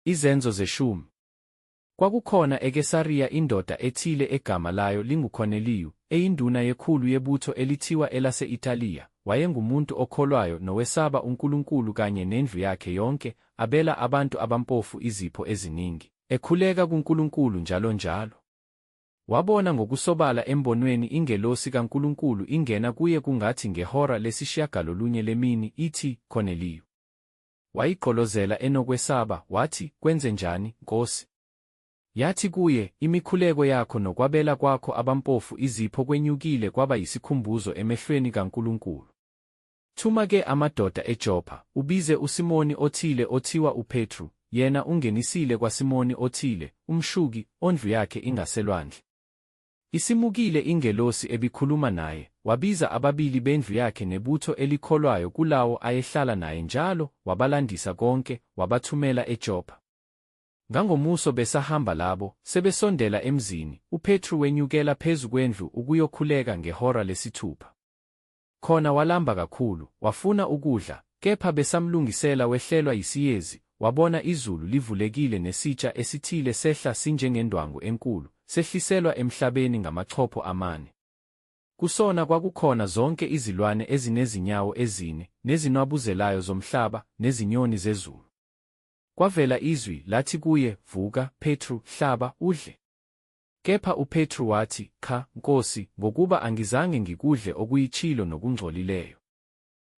Izenzo zeshumi. Kwakukhona eKesariya indoda ethile egama layo linguKorneliyu, eyinduna yekhulu yebutho elithiwa elase-Italiya, wayengumuntu okholwayo nowesaba uNkulunkulu kanye nendlu yakhe yonke, abela abantu abampofu izipho eziningi, ekhuleka kuNkulunkulu njalonjalo. Wabona ngokusobala embonweni ingelosi kaNkulunkulu ingena kuye kungathi ngehora lesishiyagalolunye lemini, ithi, Korneliyu. Wayigqolozela enokwesaba, wathi, Kwenzenjani, Nkosi? Yathi kuye, Imikhuleko yakho nokwabela kwakho abampofu izipho kwenyukile kwaba yisikhumbuzo emehlweni kaNkulunkulu. Thuma-ke amadoda eJopha, ubize uSimoni othile othiwa uPetru, yena ungenisile kwaSimoni othile, umshuki, ondlu yakhe ingaselwandle. Isimukile ingelosi ebikhuluma naye, wabiza ababili bendlu yakhe nebutho elikholwayo kulawo ayehlala naye njalo, wabalandisa konke, wabathumela eJopha. Ngangomuso besahamba labo, sebesondela emzini, uPetru wenyukela phezu kwendlu ukuyokhuleka ngehora lesithupha. Khona walamba kakhulu, wafuna ukudla, kepha besamlungisela wehlelwa yisiyezi, wabona izulu livulekile nesitsha esithile sehla sinjengendwangu enkulu, sehliselwa emhlabeni ngamachopho amane. Kusona kwakukhona zonke izilwane ezinezinyawo ezine, nezinwabuzelayo zomhlaba, nezinyoni zezulu. Kwavela izwi, lathi kuye, Vuka, Petru, hlaba, udle. Kepha uPetru wathi, Cha, Nkosi, ngokuba angizange ngikudle okuyitshilo nokungcolileyo.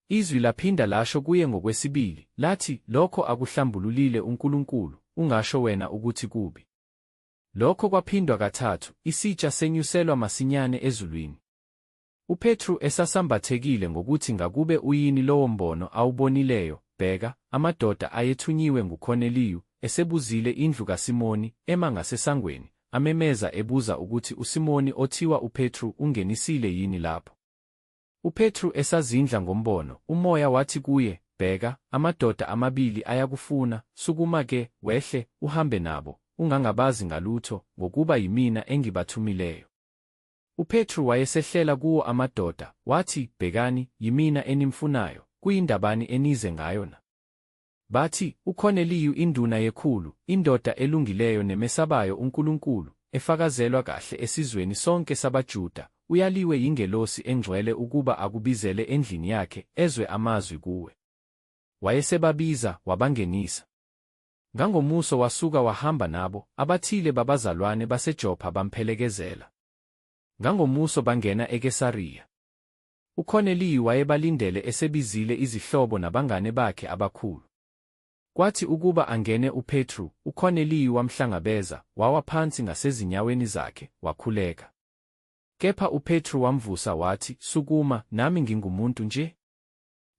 Izwi laphinda lasho kuye ngokwesibili, lathi, Lokho akuhlambululile uNkulunkulu, ungasho wena ukuthi kubi. Lokho kwaphindwa kathathu, isitsha senyuselwa masinyane ezulwini. UPetru esasambathekile ngokuthi ngakube uyini lowo mbono awubonileyo, bheka, amadoda ayethunyiwe nguKorneliyu, esebuzile indlu kaSimoni, ema ngasesangweni, amemeza ebuza ukuthi uSimoni othiwa uPetru ungenisile yini lapho. UPetru esazindla ngombono, uMoya wathi kuye, Bheka, amadoda amabili ayakufuna, sukuma ke, wehle, uhambe nabo, ungangabazi ngalutho, ngokuba yimina engibathumileyo. UPetru wayesehlela kuwo amadoda, wathi, Bhekani, yimina enimfunayo, kuyindabani enize ngayo na? Bathi, UKhoneliyu induna yekhulu, indoda elungileyo nemesabayo uNkulunkulu, efakazelwa kahle esizweni sonke sabaJuda, uyaliwe yingelosi engcwele ukuba akubizele endlini yakhe, ezwe amazwi kuwe. Wayesebabiza, wabangenisa. Ngangomuso wasuka wahamba nabo, abathile babazalwane baseJopha bamphelekezela. Ngangomuso bangena eKesariya. UKorneliyu wayebalindele esebizile izihlobo nabangane bakhe abakhulu. Kwathi ukuba angene uPetru, uKorneliyu wamhlangabeza, wawa phansi ngasezinyaweni zakhe, wakhuleka. Kepha uPetru wamvusa wathi, Sukuma, nami ngingumuntu nje.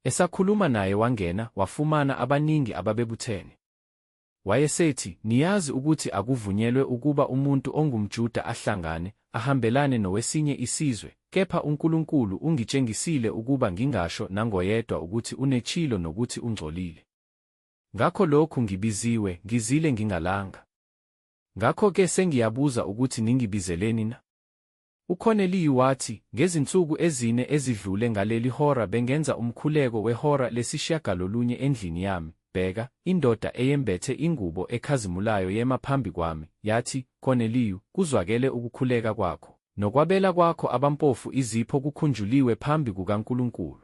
Esakhuluma naye wangena, wafumana abaningi ababebuthene. Wayesethi, Niyazi ukuthi akuvunyelwe ukuba umuntu ongumJuda ahlangane, ahambelane nowesinye isizwe, kepha uNkulunkulu ungitshengisile ukuba ngingasho nangoyedwa ukuthi unechilo nokuthi ungcolile. Ngakho lokhu ngibiziwe, ngizile ngingalanga. Ngakho-ke sengiyabuza ukuthi ningibizeleni na? UCorneliu wathi, Ngezinsuku ezine ezidlule ngaleli hora bengenza umkhuleko wehora lesishiyagalolunye endlini yami, bheka, indoda eyembethe ingubo ekhazimulayo yema phambi kwami, yathi, Corneliu, kuzwakele ukukhuleka kwakho, nokwabela kwakho abampofu izipho kukhunjuliwe phambi kukaNkulunkulu.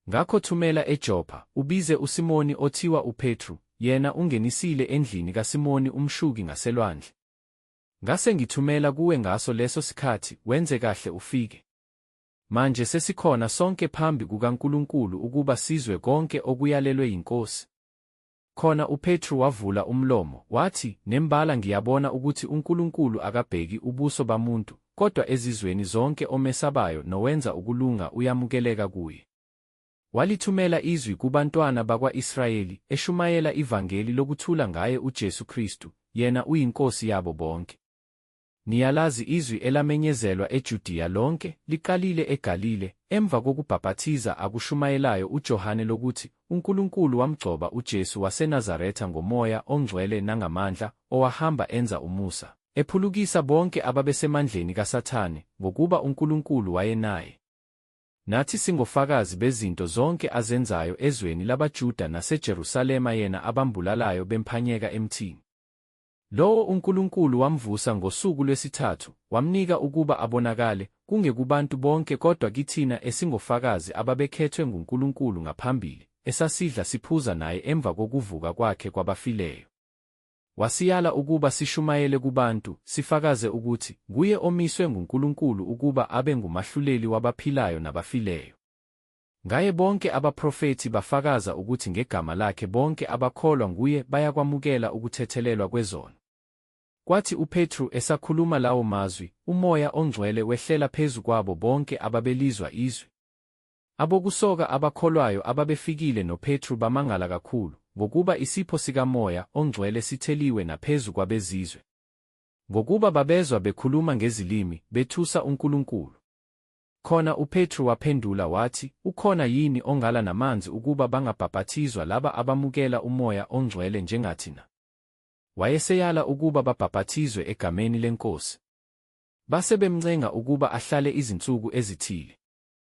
Ngakho thumela eJopha, ubize uSimoni othiwa uPetru, yena ungenisile endlini kaSimoni umshuki ngaselwandle. Ngase ngithumela kuwe ngaso leso sikhathi, wenze kahle ufike. Manje sesikhona sonke phambi kukaNkulunkulu ukuba sizwe konke okuyalelwe yiNkosi. Khona uPetru wavula umlomo, wathi, Nembala ngiyabona ukuthi uNkulunkulu akabheki ubuso bamuntu, kodwa ezizweni zonke omesabayo nowenza ukulunga uyamukeleka kuye. Walithumela izwi kubantwana bakwa-Israyeli, eshumayela ivangeli lokuthula ngaye uJesu Kristu, yena uyiNkosi yabo bonke. Niyalazi izwi elamenyezelwa eJudiya lonke, liqalile eGalile, emva kokubhapathiza akushumayelayo uJohane lokuthi uNkulunkulu wamgcoba uJesu waseNazaretha ngoMoya oNgcwele nangamandla, owahamba enza umusa, ephulukisa bonke ababesemandleni kaSathane, ngokuba uNkulunkulu wayenaye. Nathi singofakazi bezinto zonke azenzayo ezweni labaJuda naseJerusalema yena abambulalayo bemphanyeka emthini. Lowo uNkulunkulu wamvusa ngosuku lwesithathu, wamnika ukuba abonakale, kungekubantu bonke kodwa kithina esingofakazi ababekhethwe nguNkulunkulu ngaphambili, esasidla siphuza naye emva kokuvuka kwakhe kwabafileyo. Wasiyala ukuba sishumayele kubantu, sifakaze ukuthi nguye omiswe nguNkulunkulu ukuba abe ngumahluleli wabaphilayo nabafileyo. Ngaye bonke abaprofethi bafakaza ukuthi ngegama lakhe bonke abakholwa nguye bayakwamukela ukuthethelelwa kwezono. Kwathi uPetru esakhuluma lawo mazwi, uMoya oNgcwele wehlela phezu kwabo bonke ababelizwa izwi. Abokusoka abakholwayo ababefikile noPetru bamangala kakhulu, ngokuba isipho sikaMoya oNgcwele sitheliwe naphezu kwabeZizwe. Ngokuba babezwa bekhuluma ngezilimi, bethusa uNkulunkulu. Khona uPetru waphendula wathi, Ukhona yini ongala namanzi ukuba bangabhapathizwa laba abamukela uMoya oNgcwele njengathi na? Wayeseyala ukuba babhapathizwe egameni leNkosi. Base bemncenga ukuba ahlale izinsuku ezithile.